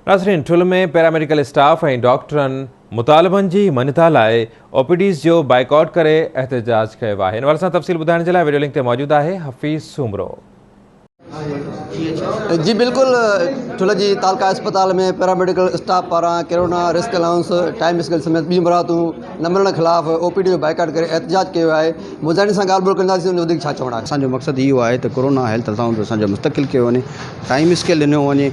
ناظرين ٺل ۾ paramedical staff ۽ ڊاڪٽرن مطالبن جي مڃتا لاء او پي ڊيز جو بائيڪاٽ ڪري احتجاج ڪيو آهي ان حوالي سان تفصيل ٻڌائڻ جي لاء ويڊيو لنڪ تي موجود آهي حفيظ سومرو. جي بلڪل ٺل جي تعلقه اسپتال ۾ پيراميڊيڪل اسٽاف پاران corona risk allowance time scale سميت ٻيون مراعتون نه ملڻ خلاف او پي ڊي جو بائيڪاٽ ڪري احتجاج ڪيو آهي مظاهرين سان ڳالهه ٻولهه ڪنداسين ان وڌيڪ ڇا چوڻ آهي. اسان جو مقصد اهو آهي ته ڪرونا هيلٿ الائونس اسان جو مستقل ڪيو وڃي ٽائيم اسڪيل ڏنو وڃي.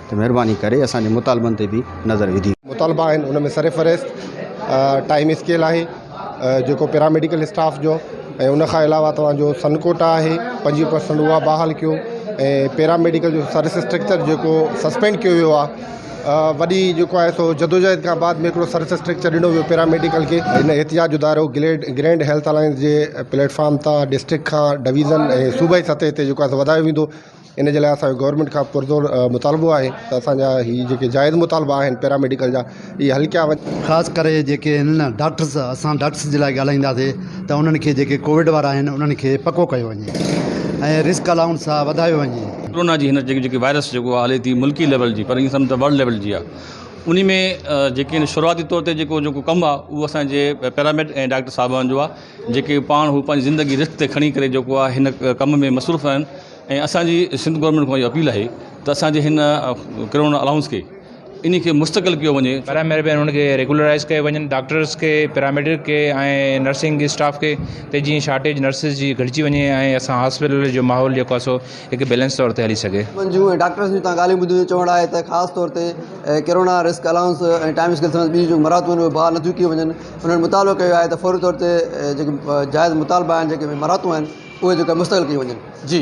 ته مهرباني ڪري اسان جي مطالبن تي به نظر وڌي. مطالبا آهن ان ۾ سرفهرست ٽائيم اسڪيل آهي جيڪو پيراميڊيڪل اسٽاف جو ۽ ان کان علاوه توهان جو سن ڪوٽا آهي پنجويهه پرسنٽ اها بحال ڪيو ۽ پيراميڊيڪل جو سرس اسٽرڪچر جيڪو سسپينڊ ڪيو ويو آهي وڏي جيڪو آهي سو جدوجهد کان بعد ۾ هڪڙو سرس اسٽرڪچر ڏنو ويو پيراميڊيڪل کي ان احتجاج ادارو گليڊ گرينڊ هيلٿ الائنس جي پليٽ فارم تان ڊسٽرڪٽ کان ڊويزن ۽ صوبائي سطح تي جيڪو آهي سو وڌايو ويندو ان جي لاء اسان کي گورمينٽ کان پرزور مطالبو آهي ته اسان جا هي جيڪي جائز مطالبا آهن پيراميڊيڪل جا اهي حل ڪيا وڃن. خاص ڪري جيڪي هن ڊاڪٽرز اسان ڊاڪٽرز جي لاء ڳالهائينداسي ته انهن کي جيڪي ڪووڊ وارا آهن انهن کي پڪو ڪيو وڃي ۽ رسڪ الائونس آهي وڌايو وڃي. ڪورونا جي هن جيڪي جيڪي وائرس جيڪو آهي هلي ٿي ملڪي ليول جي پر ائين سمجهه ته ورلڊ ليول جي آهي انهي ۾ جيڪي هن شروعاتي طور تي جيڪو جيڪو ڪم آهي اهو اسان جي پيراميڊ ۽ ڊاڪٽر صاحبان جو آهي جيڪي پاڻ هو پنهنجي زندگي رسڪ تي کڻي ڪري جيڪو آهي هن ڪم ۾ مصروف آهن ۽ اسان جي سنڌ گورنمينٽ کان اهي اپيل آهي ته اسان جي هن ڪرونا الاونس کي انهي کي مستقل ڪيو وڃي. برائي مهرباني ان کي ريگولرائز ڪيو وڃن ڊاڪٽرس کي پيراميڊڪ کي ۽ نرسنگ اسٽاف کي ته جيئن شارٽيج نرسز جي گهٽجي وڃي ۽ اسان هاسپيٽل جو ماحول جيڪو آهي سو هڪ بيلنس طور تي هلي سگهي. من جون ۽ ڊاڪٽرس جون تان ڳالهيون ٻڌيون جو چوڻ آهي ته خاص طور تي corona risk allowance ۽ time scale سميت ٻيون جيڪون مراعتون آهن اهي بحال نٿيون ڪيون وڃن. انهن مطالبو ڪيو آهي ته فوري طور تي جيڪي جائز مطالبا آهن جيڪي مراعتون آهن اهي جيڪا مستقل ڪيون وڃن جي.